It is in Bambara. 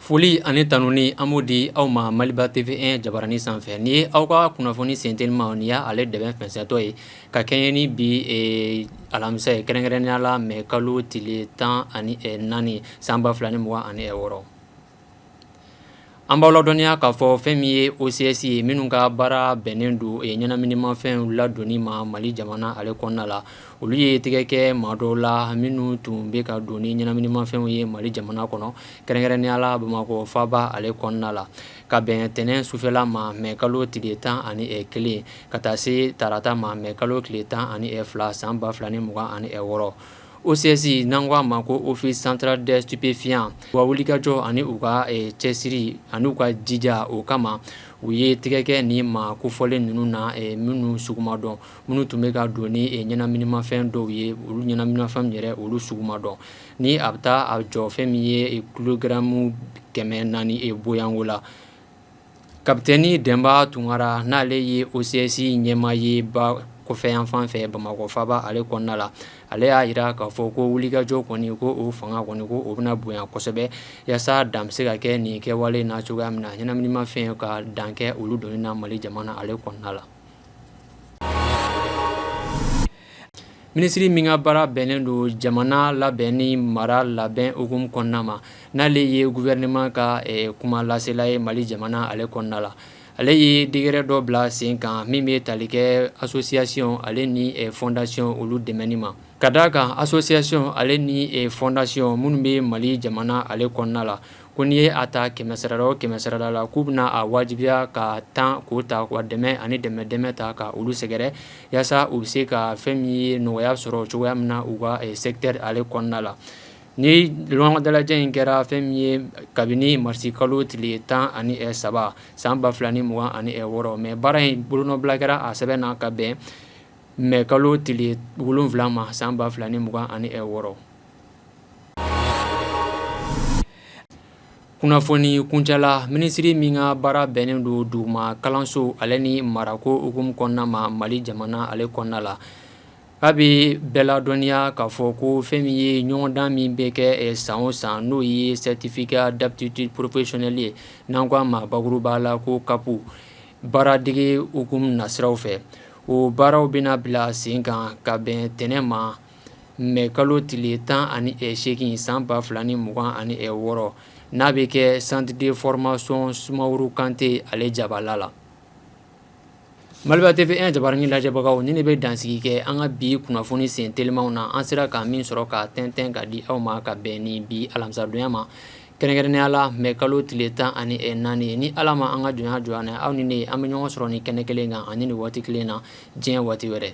Foli ani tanuni an b'o di aw ma maliba TV1 jabaranin sanfɛ nin ye aw ka kunnafoni sentelima ni y'a ale dɛbɛn fɛnsɛntɔ ye ka kɛɲɛ ni bi alamisa ye kɛrɛnkɛrɛnya la mɛ kalo tile tan ani naani san ba fila ni mugan ani wɔɔrɔ An b'aw ladɔnniya k'a fɔ fɛn min ye OCS ye minnu ka baara bɛnnen don ye ɲɛnaminimafɛnw ladonni ma mali jamana ale kɔnɔna la olu ye tɛgɛ kɛ maa dɔw la minnu tun bɛ ka don ni ɲɛnaminimafɛnw ye mali jamana kɔnɔ kɛrɛnkɛrɛnya la bamakɔ faaba ale kɔnɔna la ka bɛn ntɛnɛn sufɛla ma mɛ kalo tile tan ani kelen ka taa se tarata ma mɛ kalo tile tan ani fila san ba fila ni mugan ani wɔɔrɔ OCS n'an k'a ma ko Office Central des Stupéfiants u ka wulikajɔ ani u ka cɛsiri ani u ka jija o kama u ye tɛgɛ kɛ nin maa kofɔlen ninnu na minnu sugu ma dɔn minnu tun bɛ ka don ni ɲɛnaminimafɛn dɔw ye olu ɲɛnaminimafɛn yɛrɛ olu sugu ma dɔn ni a bɛ taa a jɔ fɛn min ye kilogaramu kɛmɛ naani bɔɲɔgɔnko la Kapitɛni dɛnba tunkara n'ale ye OCS ɲɛmaa ye ba kɔfɛ yan fan fɛ bamakɔ faaba ale kɔnɔna la ale y'a jira k'a fɔ ko wulikajɔ kɔni ko o fanga kɔni ko o bɛna bonya kosɛbɛ yaasa dan bɛ se ka kɛ nin kɛwale na cogoya min na ɲɛnaminimafɛn ka dan kɛ olu donni na mali jamana ale kɔnɔna la Minisiri min ka baara bɛnnen don jamana labɛn ni mara labɛn hukumu kɔnɔna ma n'ale ye gouvernement ka kuma lasela ye mali jamana ale kɔnɔna la ale ye décret dɔ bila sen kan min bɛ tali kɛ association ale ni fondation olu dɛmɛni ma ka da a kan association ale ni fondation minnu bɛ mali jamana ale kɔnɔna la ko n'i ye a ta kɛmɛsarada o kɛmɛsarada la k'u bɛna a wajibiya ka tan k'o ta k'a dɛmɛ ani dɛmɛ dɛmɛ ta ka olu sɛgɛrɛ yaasa u bɛ se ka fɛn min ye nɔgɔya sɔrɔ cogoya min na u ka secteur ale kɔnɔna la nin ɲɔgɔn dalajɛ in kɛra fɛn min ye kabini marisi kalo tile tan ani saba san ba fila ni mugan ani wɔɔrɔ mais baara in bolonɔbila kɛra a sɛbɛn na ka bɛn mɛ kalo tile wolonwula ma san ba fila ni mugan ani wɔɔrɔ kunnafoni kuncɛ la minisiri min ka baara bɛnnen don duguma kalanso ale ni marako hukumu kɔnɔna ma mali jamana ale kɔnɔna la k'a bɛ bɛɛ ladɔnniya k'a fɔ ko fɛn min ye ɲɔgɔndan min bɛ kɛ san o san n'o ye certificat d'aptitude professionnelle ye n'an ko a ma bakuruba la ko CAP baaradege hukumu nasiraw fɛ o baaraw bɛna bila sen kan ka bɛn ntɛnɛn ma mɛ kalo tile tan ani seegin san ba fila ni mugan ani wɔɔrɔ n'a bɛ kɛ centre de formation sumaworo kante ale jabala la maliba tv1 jabarani lajɛbagaw ni ne bɛ dansigi kɛ an ka bi kunnafoni sen telimaw na an sera ka min sɔrɔ ka tɛntɛn ka di aw ma ka bɛn ni bi alamisadonya ma kɛrɛnkɛrɛnnenya la mɛ kalo tile tan ani naani ye ni ala ma an ka jɔnya jɔnya aw ni ne an bɛ ɲɔgɔn sɔrɔ ni kɛnɛ kelen kan ani ni waati kelen na diɲɛ waati wɛrɛ